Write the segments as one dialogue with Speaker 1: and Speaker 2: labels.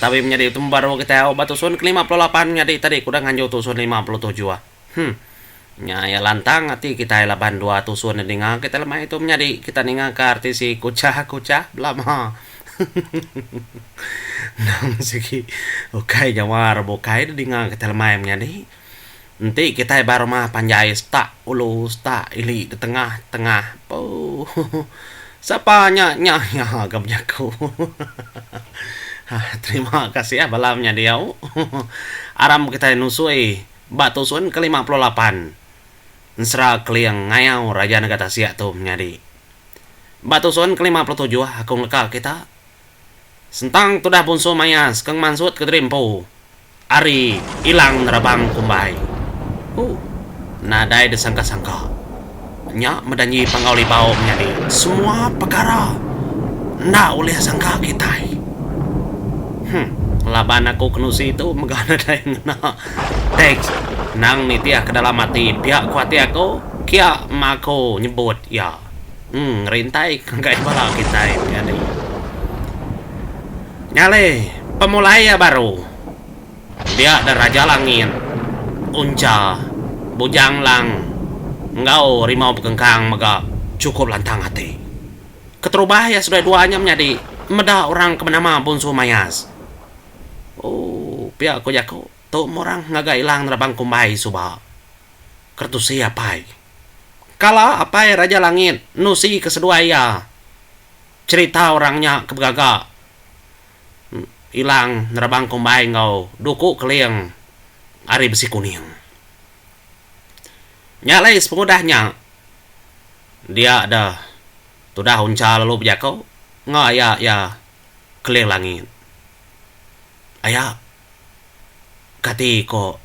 Speaker 1: Tabi menyadi utu meba dua kitai au ba tusun ke lima puluh lapan nyadi tadi kudah nganjung tusun lima puluh tujuh. Hum. Nya iya lantang ati kitai laban dua tusun nya ninga kitai lemai tu menyadi kita ninga ka RTC kuchah kuchah belama. Nang sigi ukai nyawa orang bukai tu dinga kitai lemai menyadi. Enti kitai ba rumah panjai setak ulu setak ili ditengah tengah puuh sapa nya nya iya ga bejaku hahaha terima kasih bala menya diau aram kitai nusui ba tusun ke lima puluh lapan ensera keling ngayau raja nega tasik tu menyadi ba tusun ke lima puluh tujuh aku leka kita Sentang tudah Bunsu Mayas ke ngemansut Kediri Empu ari Ilang Nerabang Kumbai. Huh. Nadai disangka-sangka. Nya medanyi Panggau Libau menyadi. Semua pekara enda ulih sangka kitai. Huh. Laban aku kenusi tu mega nadai ngena teks endang nitihka dalam ati pia ku ati aku, kia ma aku nyebut iya. Emm ngerintai ngagai bala kitai menyadi nyale pemulai iya baru dia da Raja Langit, Uncha, Bujang Lang enggau Rimau Bekengkang mega chukup lantang ati. Keterubah iya seduai dua nya menyadi meda orang ke benama Bunsu Mayas. Ooh pia ku jaku tu meh orang ngagai Ilang nerabang kumbai suba. Kertusi apai. Kala Apai Raja Langit nusi ke seduai iya, cherita orang nya ke begaga ilang nerabang kumbai enggau duku keling ari besi kuning. Nya alai sepengudah nya, dia deh tudah uncha lalu bejako enggau aya iya Keling Langit. Aya kati ko.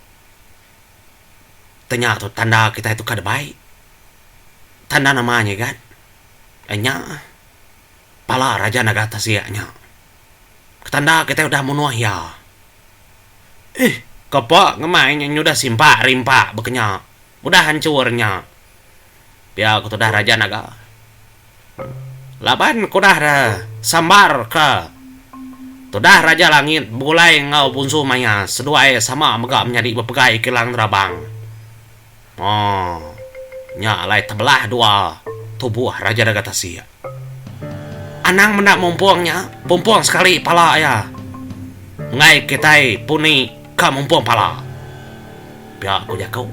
Speaker 1: Tang nya tu tanda kitai tu kada baik. Tanda nama nyigan? Nya, pala raja naga tasia nya. Tanda kitai udah munuh iya. Ih, kapa ngemai inya nyudah simpak rimpak baka nya. Udah hancur nya. Pia ku tudah Raja Naga. Laban ku udah da sambar ka tudah Raja Langit begulai enggau Bunsu Maya seduai sama mega menyadi bepegai Kilang Nerabang. Moo. Nya alai tebelah dua tubuh Raja Naga Tasik. Anang meda mumpung nya, pumpung sekali pala iya. Enggai kitai puni ka mumpung pala. Pia ku jaku.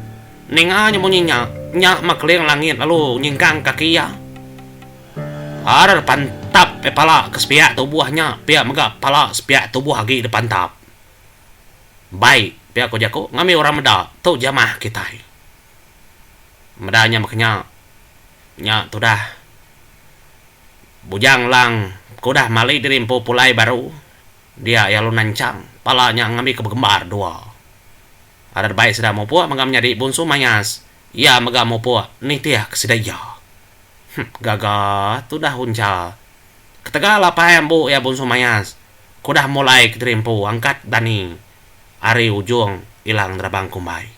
Speaker 1: Ninga nya munyi nya, nya Makeling Langit lalu nyingkang kaki iya. Har dipantap meh pala ke sepiak tubuh nya pia mega pala sepiak tubuh agi dipantap. Bai, pia ku jaku, ngambi orang meda, tu jamah kitai. Meda nya baka nya. Nya tudah Bujang Lang bekudah mali diri empu pulai baru dia iya lalu nanchang pala nya ngambika begembar dua. Adat bai sida mupuk mega menyadi bunsu mayas iya mega mupuk nitihka sida iya. Huh gaga tudah uncha. Ketegal apai ambu iya bunsu mayas keudah mulaika diri empu angkat dani ari ujung Ilang Nerabang Kumbai.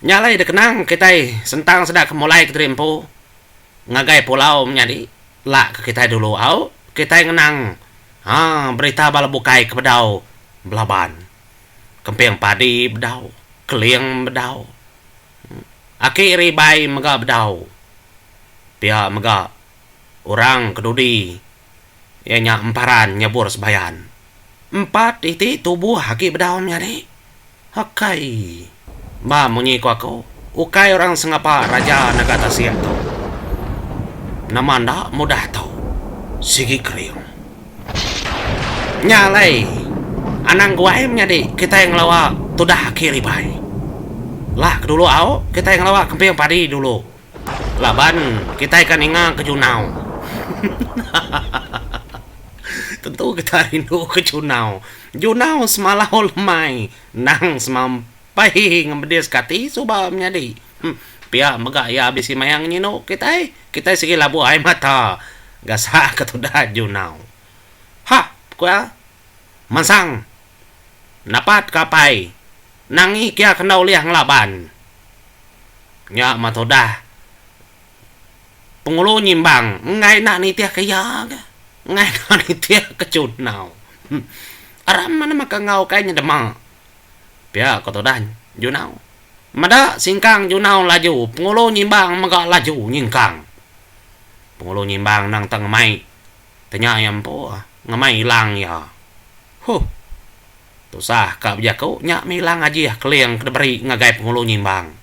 Speaker 1: Nya alai dikenang kitai sentang sida ke mulai kediri empu ngagai pulau menyadi la ke kitai dulu au kitai ngenang aa berita bala bukai ke bedau belaban kemping padi bedau keling bedau aki ari ibai mega bedau pia mega orang kedudi. Iya nya emparan nyebur sebayan. Empat iti tubuh agi bedau menyadi. Akai. Ba munyi ku aku, ukai orang sengapa raja nega tasik tu. Nama enda mudah tau. Sigi kering. Nya alai. Anang guai menyadi kitai ngelawa tudah aki ribai. Lah ke dulu au, kitai ngelawa kemping padi dulu. Laban kitai ka ninga ke junau. Hahahaha tentu kitai rindu ke junau. Junau semalau lemai endang semampai ngemedis ke ati suba menyadi. Pia mega iya bisi maya ngenyinu kitai. Kitai sigi labuh ai mata gasak ke tuda junau. Hah ku iya. Mansang. Napat ka apai. Nangi kia kena ulih ngelaban. Nya mah tudah. Pengulu nyimbang enggai enda nitih ka iya ga. Enggai enda nitih ka chunau. Aram mana maka enggau kai nya dema. Pia ko tudah Junau. Meda singkang Junau laju Pengulu nyimbang mega laju nyingkang. Pengulu nyimbang nang tang ngemai. Tanya iya empu, ngemai ilang iya. Huh. Tusah ka bejaku nya mih ilang ajih keling ke diberi ngagai Penghulu Nyimbang.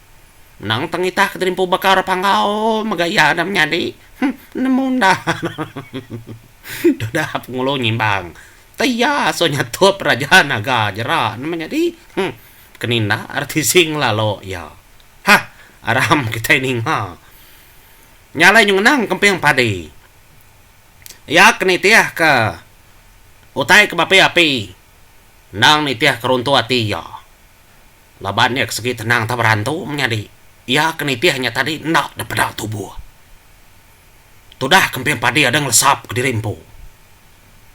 Speaker 1: Menang tang itah ke dirimpu baka orang Panggau mega iya enda menyadi. Huh, nemu enda. Tudah Penghulu Nyimbang. Ti iya asu nyatup Raja Naga jera ne menyadi. Huh, pekeninda ari tisi ngelalu iya. Hah, aram kitai ninga. Nya alai nyu ngenang kemping padi. Iya ke nitihka utai ke beapi-api endang nitihka runtu ati iya. Laban iya ke sigi tenang tau berantu menyadi iya ke nitih nya tadi enda dipeda tubuh. Tudah kemping padi ada ngelesap kediri empu.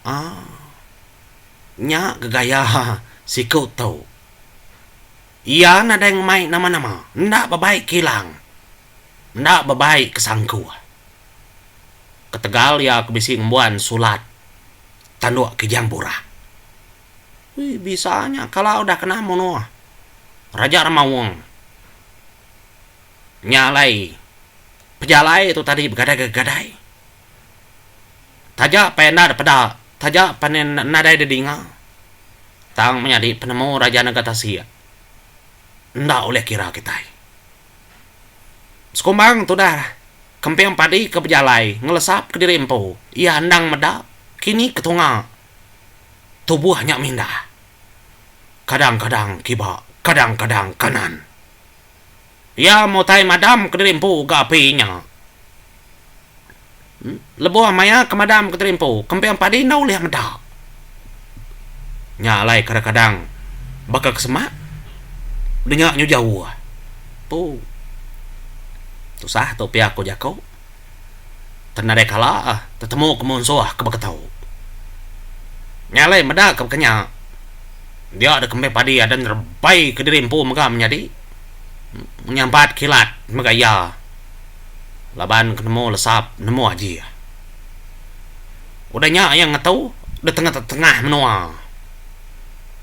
Speaker 1: Aaa. Nya ke gaya siku tu. Iya nadai ngemai nama-nama. Enda bebai kilang. Enda bebai ke sangku. Ketegal iya ke bisi ngembuan sulat tanduk Kijang Burah. Ui bisa nya kala udah kena munuh Raja Remaung. Nya alai pejalai tu tadi begadai-gegadai. Taja pan enda depeda, taja pan nadai dedinga tang menyadi penemu Raja Nega Tasik enda ulih kira kitai. Sekumbang tudah kemping padi ke bejalai ngelesap kediri empu iya endang meda kini ketunga tubuh nya mindah kadang-kadang kiba kadang-kadang kanan. Iya mutai madam kediri empu ga api nya. Lebuh maya ke madam ke tadi empu, kempiang padi enda ulih meda. Nya alai kadang-kadang baka ke semak denya nyujau uah. Tu. Tusah tu pia ku jaku. Tan nadai kala tetemu ke munsuh ke baka tu. Nya alai meda ke baka nya, dia dek kempiang padi ada nerebai ke diri empu mega menyadi. Nyampat kilat mega iya. laban ke nemu lesap nemu aji iya. Udah nya iya ngetu deh tengetengah menua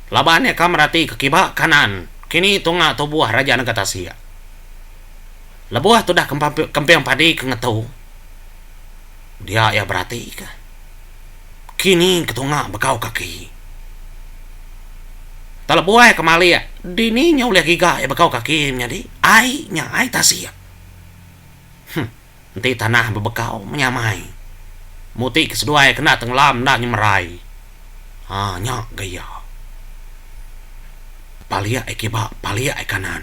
Speaker 1: laban iya ka merati ke kiba kanan kini tunga tubuh Raja Nega Tasik. Lebuh tudah kemping padi ke ngetu dia iya berati ka kini ke tunga begau kaki. Telebuai kemali dini nya ulih giga iya begau kaki menyadi ai nya ai tasik. Huh. Enti tanah bebekau menyamai. Muti ke seduai kena tenggelam enda nyemerai. Ha nya ga iya. Palik ai kiba, palik ai kanan.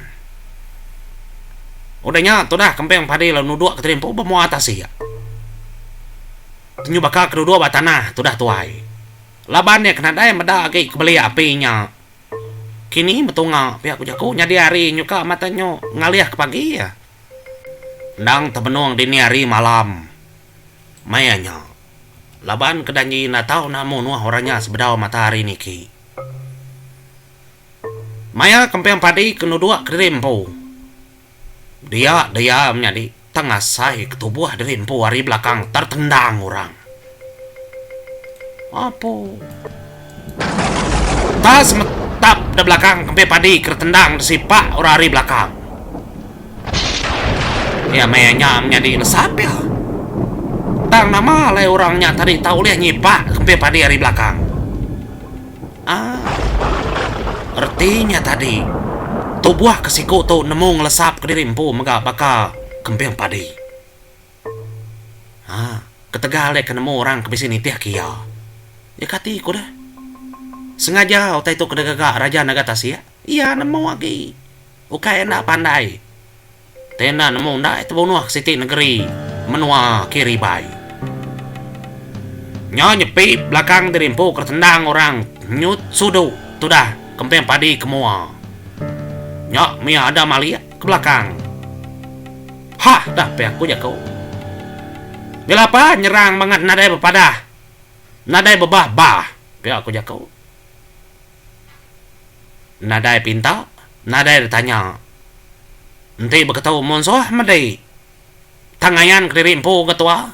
Speaker 1: Udah nya tudah kemping padi lalu nuduk ke tadi empu ba mua tasik. Tenyu baka ke duduk ba tanah tudah tuai. Laban iya ke nadai meda agi ke belia api nya. Kini betunga pia ku jaku nyadi hari nyuka mata nyu ngalih ke pagi iya. Endang tebenung dini hari malam maya nya laban ke janji enda tau namu nuh orang nya sebedau matahari niki. Maya kemping padi ke nuduk kediri empu. Dia dia menyadi tang asai ke tubuh diri empu ari belakang tertendang orang. Apo. Ta semetap da belakang kempi padi ke tertendang disipak orang ari belakang. Dia maya nya menyadi lesap dia. Tang nama alai orang nya tadi tak ulih nyipak kempi padi ari belakang. Aaa. Reti nya tadi, tubuh ke siku tu nemu ngelesap ke diri empu mega baka kemping padi. Haa, ketegal deh ke nemu orang ke bisi nitih ke iya. Iya kati ku deh. Sengaja utai tu ke degaga Raja Naga Tasik. Iya nemu agi. Ukai enda pandai. Te enda nemu ndai tebunuh siti negeri menua Kiribai. Nyau nyepi belakang diri empu ke tendang orang nyut sudu tudah kemping padi ke mua. Nya mia ada malik ke belakang. Hah dah pia ku jaku. Bila pa nyerang mangat nadai bepadah nadai bebah bah pia ku jaku. Nadai pinta, nadai ditanya. Enti beketu munsuh medi. Tang ayan kediri empu ke tua.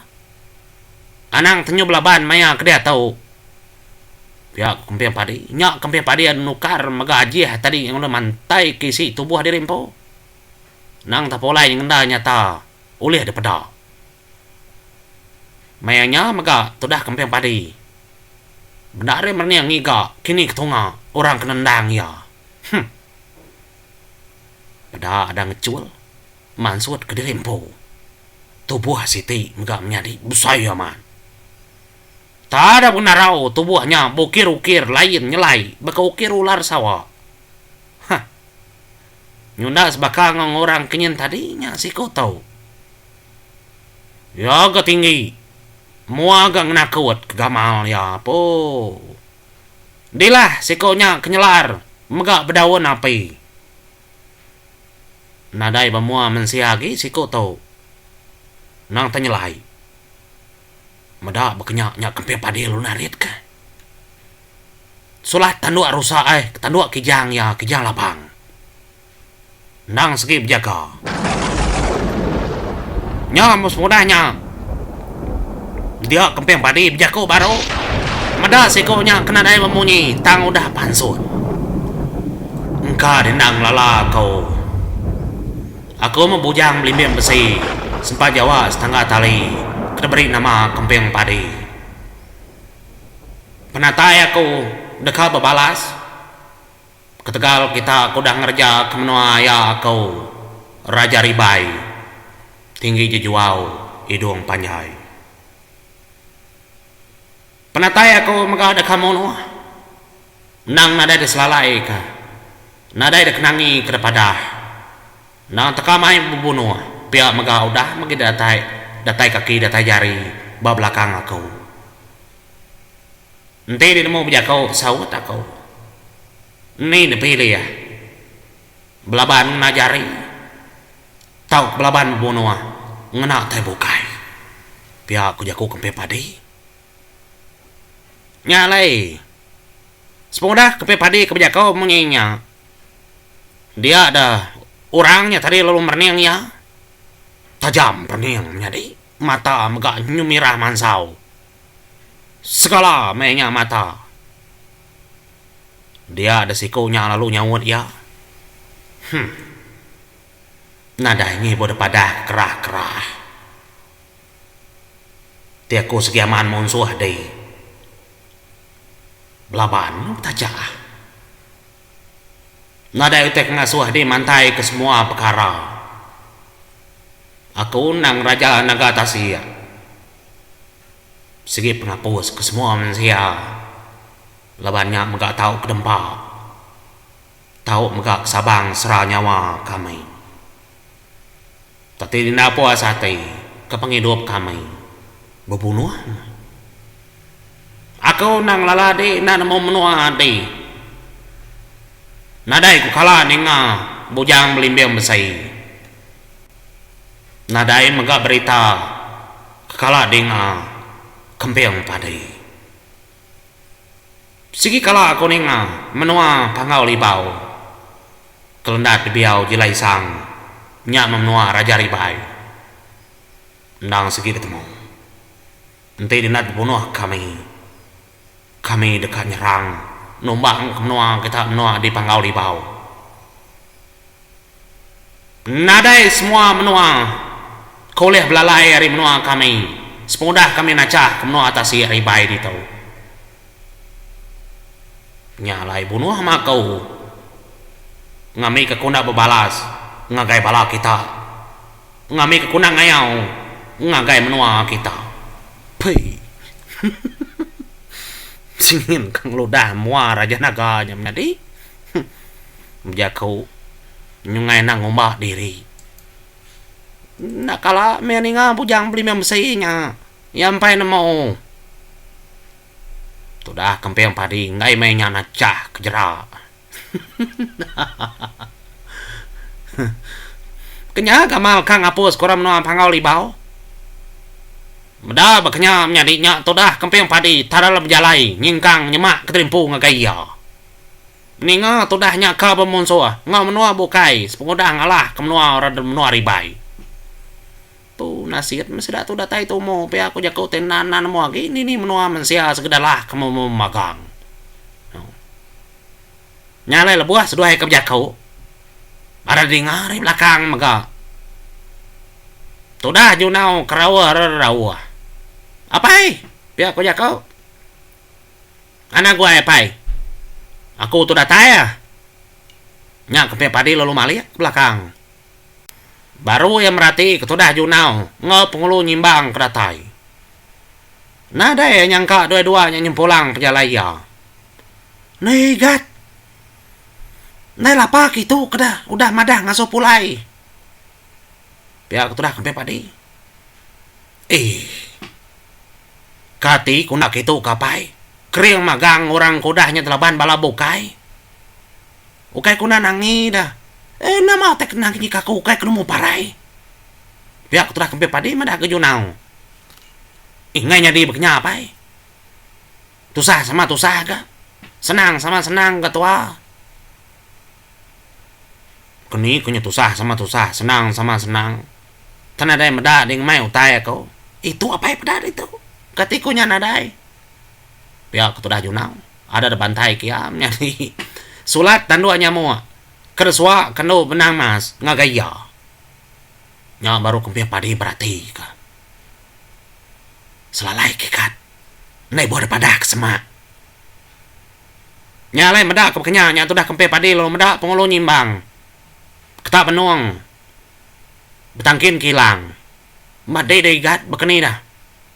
Speaker 1: Anang tenyub laban maya ke diatu. Pia ku Kemping Padi. Nya Kemping Padi enda nukar mega ajih tadi ngan ulih mantai ke isi tubuh diri empu. Nang tepulai nyengenda nyata ulih dipeda. Maya nya mega tudah kemping padi. Benda ari merening ngiga kini ke tunga orang ke nendang iya. Huh. Peda ada ngechul mansut kediri empu. Tubuh siti mega menyadi besai amat. Tada pun narau tubuh nya beukir-ukir lain nyelai baka ukir ular sawa. Huh. Nyunda sebaka enggau orang ke nyin tadi nya siku tu. Iya ga tinggi. Mua ga ngenakut ke gamal iya poo. Dilah siko nya ke nyelar mega bedaun api. Nadai ba mua mensia agi siko tu. Nang tenyelai. Meda ba kenya nya kemping padi lu narit ka. Sulah tanduk rusa ai tanduk kijang iya, kijang labang. Endang segi bejaga. Nya mun semudah nya. Dia kemping padi bejaku baru. Meda siku nya kena dai bemunyi tang udah pansut. Engka di enda ngelala aku. Aku meh bujang belimbing besi sempa jawa setangga tali ke diberi nama kemping padi. Penatai aku deka bebalas. Ketegal kita ke udah ngereja ke menua iya ko Raja Ribai tinggi jejuau idung panjai. Penatai aku mega deka munuh endang nadai diselalai ka nadai dikenangi ka depadah endang teka mai bebunuh pia mega udah megi datai datai kaki datai jari ba belakang aku. Enti dinemu bejako saut ako. Ni nepi liyah. Belaban ngena jari tau belaban bebunua ngena tai bukai. Pia ko jaku kempin padi. Nya alai semudah kempin padi ke bejako mung nya nya dia da orang nya tadi lalu merening iya tajam perening menyadi. Mata mega nyemirah mansau. Segala meh nya mata. Dia deh siku nya lalu nyaut iya. Huh. Nadai ngibu deh padah kerah-kerah. Ti aku segiaman munsuh dih. Belaban meh betaja. Nadai utai pengasuh di mantai ke semua pekara. Aku endang raja naga tasik. Sigi pengapus ke semua mensia laban nya mega tau kedempa, tau mega ke sabang sera nyawa kami. Kati dina apo asa ati ke pengidup kami bebunuh meh. Aku endang lala adi enda nemu menua ati. Nadai ku kala ninga bujang belimbing besi. Nadai mega berita ke kala dinga kemping padi. Sigi kala aku ninga menua Panggau Libau kelendat dibiau Jila Isang nya meh menua Raja Ribai. Endang sigi betemu. Enti dinak dibunuh kami, kami deka nyerang numbang ke menua kita menua di Panggau Libau. Nadai semua menua ke ulih belalai ari menua kami sepengudah kami nachah ke menua tasik ari ibai ditu. Nya alai bunuh mah aku ngambika ku enda bebalas ngagai bala kita, ngambika ku enda ngayau ngagai menua kita. Pee. Singin ka ngeludah mua raja naga nya menyadi. Huh ujar aku nyungai enda ngumba diri. Enda kala meh ninga bujang belimeh mesi nya. Iya empai nemu. Tudah kemping padi enggai meh inya nachah ke jera. Hahaha. Kenyah ga mal ka ngapus kura menua Panggau Libau. Meda ba kenyah menyadi nya tudah kemping padi tadal bejalai nyingkang nyema ke terimpu ngagai iya. Ninga tudah nya ka bemunsuh enggau menua bukai sepengudah ngalah ke menua orang dulu menua Ribai. Tu nasit meh sida tu datai tumu pia ku jaku ti enda enda nemu agi dini menua mensia sekeda lah ke memagang. Nya alai lebuh seduai ke bejaku baru dinga ari belakang mega tudah jundau keraua reraua. Apai! pia ku jaku. Ngana gua eh pai. Aku tu datai ah. Nya keping padi lalu malik belakang. Baru iya merati ketudah Junau enggau Pengulu nyimbang ke datai. Nadai iya nyangka dua-dua nya nyempulang pejalai iya. Neh Igat. Ndai lapa ke itu ke dah udah madah ngasuh pulai. Pia ketudah keping padi. Eii. Kati ku enda kitu ka apai, kering magang orang ke udah nyadi laban bala bukai. Ukai ku enda nangi da. Eii enda maoh utai kena ngejika aku ukai penemu parai. Pia ku tudah kempin padi madah ga junau. Ingai nyadi ba kinya apai. Tusah sama tusah ga, senang sama senang ga tua. Ku ni ku nya tusah sama tusah senang sama senang ke nadai meda ding mai utai aku itu apai peda ditu kati ku nya nadai pia ke tudah junau ada da bantai ke iya menyadi sulat tanduk nyamuk ke da suak ke enu benang mas ngagai iya nya baru ku mpih padi berati ka selalai kikat ndai buah da padah ke semak. Nya alai meda ke pekenya nya tudah kempih padi lalu meda pengulu nyimbang ketak benung betangkin kilang. Meh dei dei gat bekeni dah.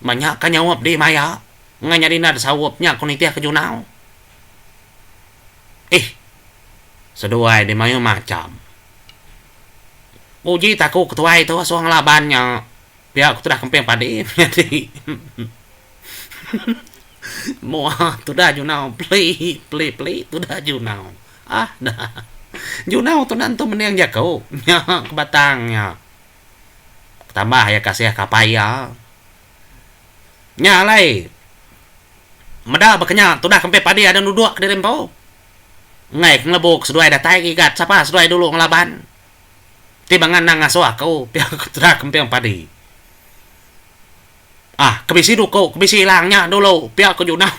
Speaker 1: Meh nya ka nyaup dei maya engai nyadi enda desaup nya ku nitih ke junau. Eih seduai dei mayuh macham. Uji taku ketuai tu suang laban nya pia ku tudah kempih padi nyadi. Moa tudah junau peli peli peli tudah junau ah dah junau tu enda entu mending jaku nya ke batang nya tambah iya kasih kapai iya nya alai meda ba kenya tudah ke empai padi ada dudok kediri empu engai ke ngelebu ke seduai datai gigat sapa seduai dulu ngelaban ti ba ngenang ngasuh aku pia ke tudah ke empai padi. Ah, ke bisi duku, ke bisi ilang nya dulu pia ku Junau.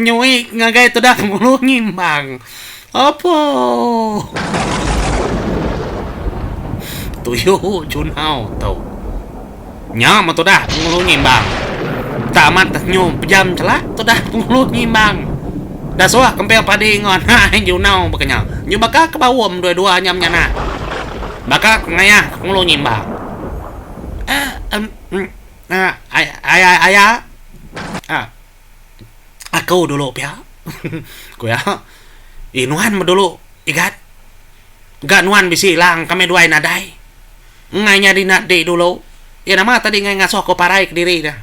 Speaker 1: Nyuik ngagai tudah ngulu ngimbang. Apuh. Tuyu Junau tu. Nya meh tudah ngulu ngimbang. Tak amat dah nyu pejam chelak tudah ngulu ngimbang. Dah suah kempil padi enggau anak ai Junau baka nya. Nyu baka ke baum dua-dua nya menyanah. Baka ke ngayah ngulu ngimbang. Aya, aku dulu pia, ku iya. Eh nuan meh dulu Igat. Ga nuan bisi lang kami duai nadai. Ngai nyadi enda enti dulu. Iya nama tadi ngai ngasuh aku parai kediri nya.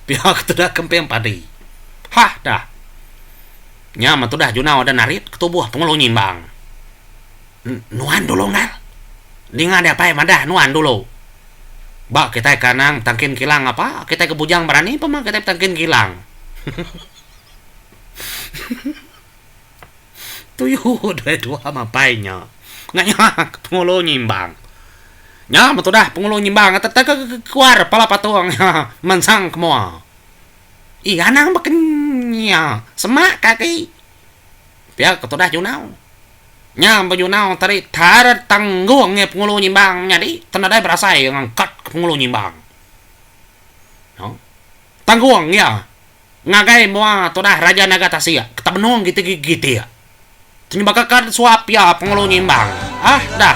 Speaker 1: Pia ku tudah kemping padi. Hah dah. Nya meh tudah junau da narit ke tubuh Pengelung Nyimbang. Nuan dulu nal. Ninga dia pai madah nuan dulu. Ba kitai ke anang betangkin kilang apa kitai ke bujang berani pun mah kitai betangkin kilang. Tuyu doi dua mapai nya. Ngaya ke Penghulu Nyimbang. Nya meh tudah Penghulu Nyimbang tetekekear pala patung nya mansang ke mua. Ih anang baka nya semak kaki. Pia ke tudah Junau. Nya bejunau tadi taret tanggung iya Penghulu Nyimbang menyadi ke nadai berasai iya ngangkat ke Penghulu Nyimbang. Noh. Tanggung iya ngagai mua tudah Raja Naga Tasik ke tak benung gitik-gitik. Tenyebaka ka suap iya Penghulu Nyimbang. Ah dah.